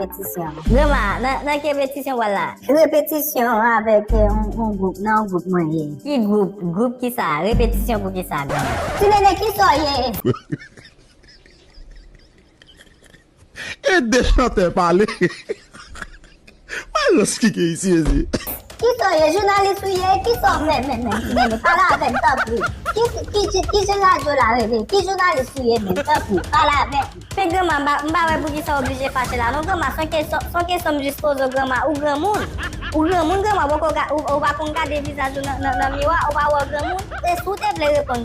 Repetisyon. Grandma, nan, nan ki repetisyon wal la? Repetisyon avèk eh, on, on gwoup, nan on gwoup mwen ye. Ki gwoup? Gwoup ki sa? Repetisyon pou ki sa, grandma? Ti Nene, ki sa w ye? Ede chantè pale Mayo skike isi mesye. Kisaw ye jounalis ou ye kisaw fè menm menm ti nene pale avèm tanpri ki je radyo la rele ki jounalis ou ye menm tanpri pale avèm. Men granma m pa wè poukisa w oblije fache la non granma son kesyon m jis poze w granma ou granmoun ou granmoun granma ou pa konn gade vizaj ou nan miwa ou pa wè w granmoun e si w te vle reponn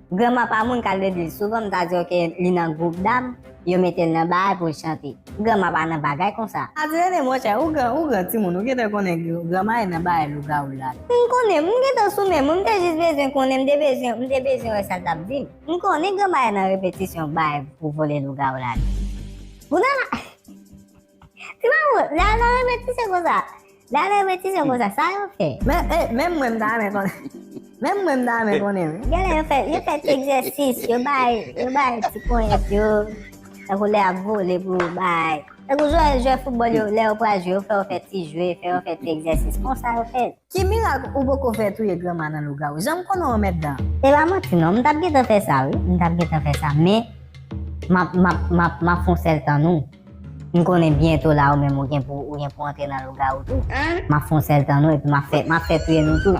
Granma pa moun kal legliz souvan m ta diw ke li nan group dam yo metel nan baay poul chante granma pa nan bagay konsa. Adirene monchè ou gran ou gran timoun ou gentan konnen granma e nan baay lougawou la. M konnen, m gentan sou menm, m te jis bezwen konnen, m te bezwen, m te bezwen wè sal tap dim. M konnen granma e nan repetisyon baay pou vole lougawou la. Pou nan la. Ti mamoun, lè a nan renmen ti sè konsa. Lè a nan renmen ti sè konsa, sa yo fè. Menm mwen m ta renmen konnen. Menm mwen m ta renmen konnen wi. Gen lè yo fè, yo fè ti egzèsis, yo bay, yo bay ti ponyèt yo. Tankou lè yap vole pou yo bay. Tankou jwè, jwè foutbòl yo, lè yo pral jwe, yo fè yo fè ti jwe, fè yo fè ti egzèsis. Konsa yo fè. Ki mirak ou poko fè touye granma nan lougawou janm konnen w mèt dan. Se pa manti non m tap gentan fè sa wi m tap gentan fè sa men map map map map fon sèl tann ou m konnen byento la ou menm ou gen pou ou gen pou antre nan lougawou tou map fon sèl tann ou epi map fè map fè touye nou tout.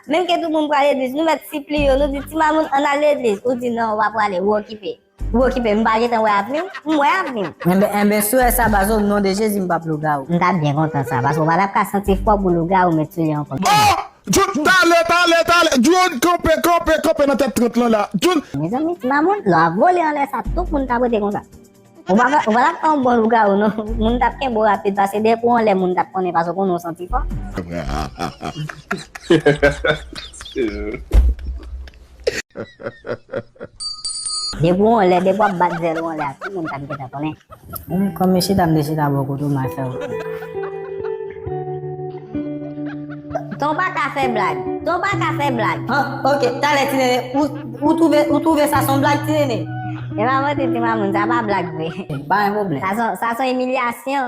Menm ke tout moun pral legliz nou mèt sipli yo nou di ti mamoun ann al legliz ou di nan ou pa prale ou okipe ou okipe m pa gentan wè avni w m wè avni m. Enben enben swe sa baz o non de jezi m pap lougarou. M tap byen kontan sa paske w pa tap ka santi fwa pou lougarou met sou li ankò. Oh! Djoun tale tale tale Djoun kanpe kanpe kanpe nan tèt 30 lan la Djoun. Mezanmi ti mamoun lò ap vole anlè sa tout moun ka prete konsa. Ou pa ou pa tap fè yon bon lougarou non, moun tap kenbe w rapid pase dèyè pou yon lè moun tap konnen pase w konnen w santi fò. Depi w yon lè, depi wap bat zèl w yon lè a tout moun tap gentan konnen. Menm kòm yon chita mte chita bò kote w mal fè w konnen. Ton paka fè blag, ton paka fè blag. Ok, talè ti nene ou. Ou twouve ou twouve sa son blag ti nene? Epa mwen te di Mamoun sa pa blag vre. Sa son imilyasyon.